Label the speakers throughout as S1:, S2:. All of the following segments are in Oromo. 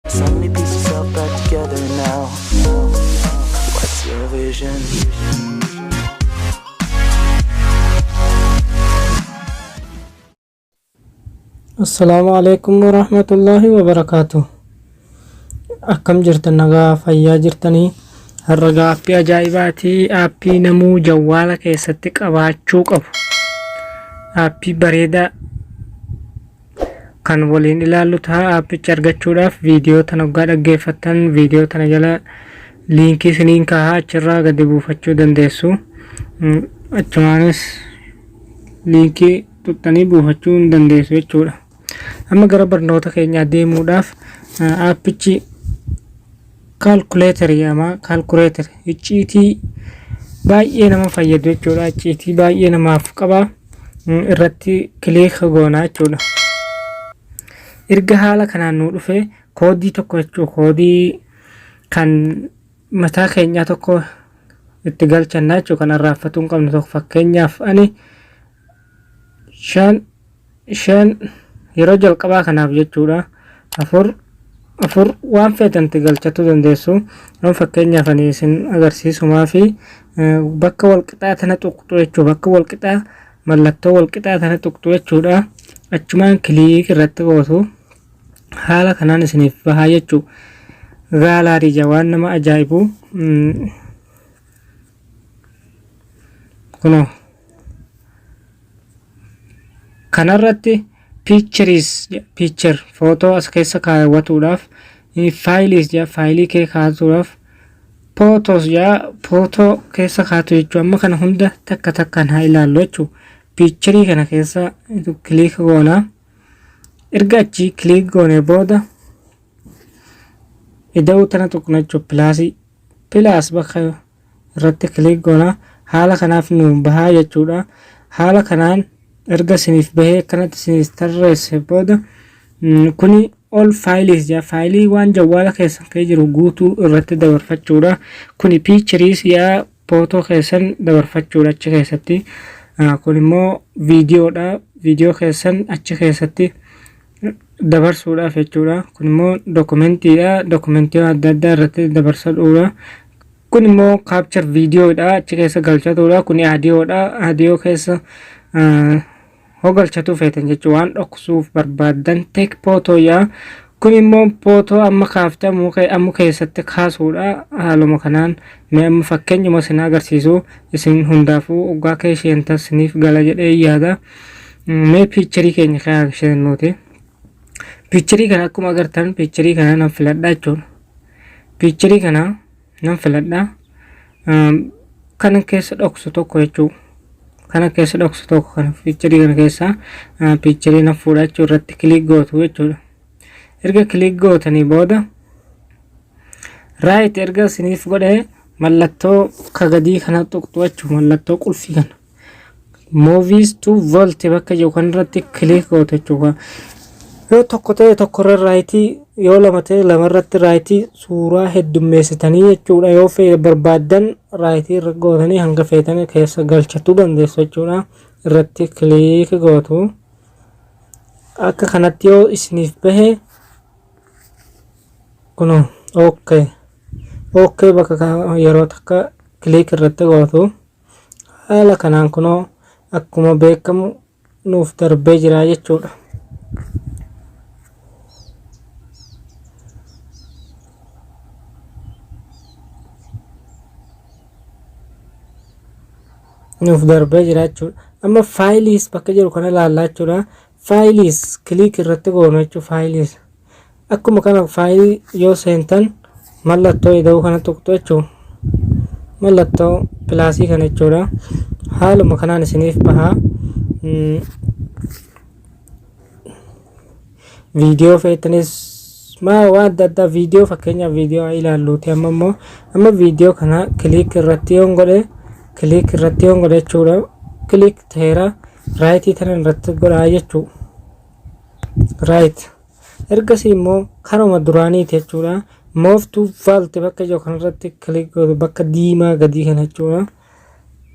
S1: So many pieces all back together now. What's your
S2: vision? Assalaamu alaikum warahmatullaahi wabarakaatu. Akkam jirtan nagaa fayyaa jirtanii? Har'a gaaffii ajaa'ibaatii aappii namuu jawwaala keessatti qabaachuu qabu. Aappii bareedaa kan waliin ilaallu ta'a aappicha argachuudhaaf viidiyoo tana oggaa dhaggeeffattan viidiyoo tana jala liinkii isiniin kaaha achirraa gadi buufachuu dandeessu Mm, achumaanis liinkii tuqxanii buufachuu hin dandeessu jechuudha amma gara barnoota keenyaa deemuudhaaf eh, aappichi Calculator jedhama. Calculator icciitii baay'ee nama fayyadu jechuudha. Icciitii baay'ee namaaf qaba. Mm, Irratti kiliika goona jechuudha. Erga haala kanaan nuu dhufe koodii tokko jechuudha. Koodii kan mataa keenyaa tokko itti galchanna jechuudha. Kan arraaffatuu hin qabne tokko fakkeenyaaf ani shan shan yeroo jalqabaa kanaaf jechuudha afur afur waan feetanti galchachuu dandeessu amma fakkeenyaaf ani isin agarsiisumaa fi eh, bakka walqixaa tana tuqxu jechuu bakka walqixaa mallattoo walqixaa tana tuqxu jechuudha achumaan kiliik irratti gootu haala kanaan isiniif bahaa jechuu gaalaarii ija waan nama ajaa'ibu mm, kunoo kanarratti pictures picture footoo as keessa kaawwatuudhaaf faayiliis jedha faayilii kee kaasuudhaaf pootoos jedha pootoo keessa kaatu jechuudha amma kana hunda takka takkaan haa ilaallu jechuudha piicharii kana keessa kiliik goona erga achi kiliik goone booda ida'uu tana xuqnachuu pilaasii Plus bakka irratti click goona. Haala kanaaf nuuf bahaa jechuudha. Haala kanaan erga isiniif bahee akkanatti isiniif tarreesse booda kuni all files ja faayilii waan jawwaala keessan kee jiru guutuu irratti dabarfachuudha. Kuni pictures yaa footoo keessan dabarfachuudha achi keessatti. Kun immoo viidiyoodha. Viidiyoo keessan achi keessatti dabarsuudhaaf jechuudha. Kun immoo dookumentiidha. Dookumentii adda addaa irratti dabarsadhuudha. Kun immoo kaapchar viidiyoodha. Achi keessa galchatuudha. Kun aadiyoodha. Aadiyoo keessa hoo galchatuu feetan jechuudha. Waan dhoksuuf barbaaddan teek pootooyaa. Kun immoo pootoo amma kaafte ammu keessatti kaasuudha. Haaluma kanaan mee amma fakkeenyuma isin agarsiisu isin hundaafuu oggaa keesheen tasiniif gala jedhee yaada. mee piicharii keenya kanaan isheen nuti piicharii kana akkuma agartan piicharii kana nan filadhaa jechuudha piicharii kana nan filadhaa kanan keessa dhoksu tokko jechuudha kana keessa dhoksu tokko kana piicharii kana keessaa piicharii nan fuudha jechuudha irratti kiliik gootu jechuudha erga kiliik gootanii booda raayit erga isiniif godhee mallattoo kagadii kana tuqxu jechuudha mallattoo qulfii kana movies to volt bakka jiru kan irratti click gootu jechuudha. Yoo tokko ta'e tokko irra raayitii yoo lama ta'e lama irratti raayitii suuraa heddummeessitanii jechuudha. Yoo fe'e barbaaddan raayitii irra gootanii hanga feetan keessa galchachuu dandeessu jechuudha. Irratti click gootu. Akka kanatti yoo isiniif bahe kuno ok ok bakka yeroo takka click irratti gootu. Haala kanaan kunoo akkuma beekamu nuuf darbee jira jechuudha. nuuf darbee jira jechuudha. Amma faayiliis bakka jiru kana ilaallaa jechuudha. Faayiliis kiliik irratti goonu jechuudha faayiliis. Akkuma kana faayilii yoo seentan mallattoo ida'uu kana tuqxu jechuun mallattoo pilaasii kana jechuudha. Haaluma kanaan isiniif baha. Viidiyoo feetanis maa waan adda addaa viidiyoo fakkeenyaaf viidiyoo ilaalluuti amma immoo amma viidiyoo kana kiliik irratti yoon godhe kiliik irratti yoon godhe jechuudha. Kiliik ta'eera raayitii tana irratti godhaa jechuudha. Raayit. Right. Ergasii immoo karuma duraaniiti jechuudha. Move to vault bakka jiru kanarratti click godhu bakka diimaa gadii kana jechuudha.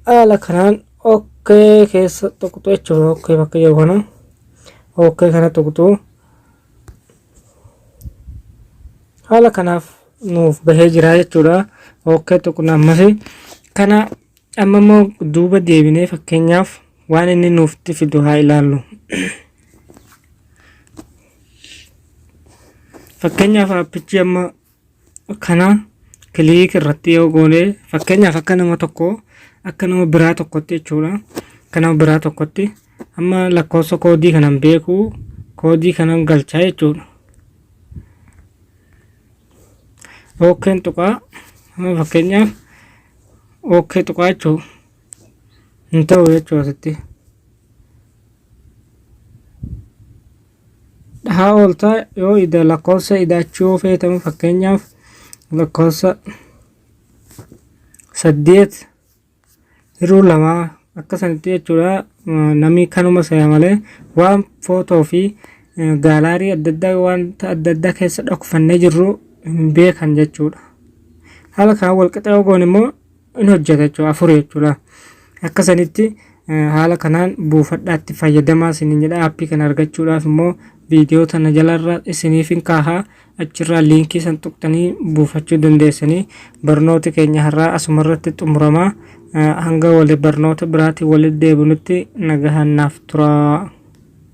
S2: Haala kanaan OK keessa tuqxu jechuudha. OK bakka jiru kana. OK kana tuqxu. Haala kanaaf nuuf bahee jira jechuudha. OK tuqna ammas kana Amma immoo duuba deebinee fakkeenyaaf waan inni nuuftti fidu haa ilaallu. Fakkeenyaaf aappichi amma kana kiliik irratti yoo goone fakkeenyaaf akka nama tokko akka nama biraa tokkotti jechuudha. Akka nama biraa tokkotti amma lakkoofsa koodii kanan beeku koodii kanan galchaa jechuudha. Ookeen tuqaa amma fakkeenyaaf ok tuqaachuu hin ta'u jechuu asitti dhahaa ooltaa yoo ida lakkoofsa idaachuu yoo feetamu fakkeenyaaf lakkoofsa saddeet hiruu lamaa akka sanitti jechuudha namni kanuma saya malee waan footoo fi gaalaarii adda addaa wanta adda addaa keessa dhokfannee jirru hin beekan jechuudha. Haala kanaan walqixa yoo goone immoo hin hojjeta jechuudha afur jechuudha. Akka sanitti haala kanaan buufadhaatti fayyadamaa isiniin jedha aappii kana argachuudhaaf immoo viidiyoo tana jalarra isiniif hin kaaha achirraa liinkii san tuqtanii buufachuu dandeessanii barnooti keenya har'aa asumarratti xumuramaa hanga wali barnoota biraatiin walitti deebinutti nagahaan naaf turaa.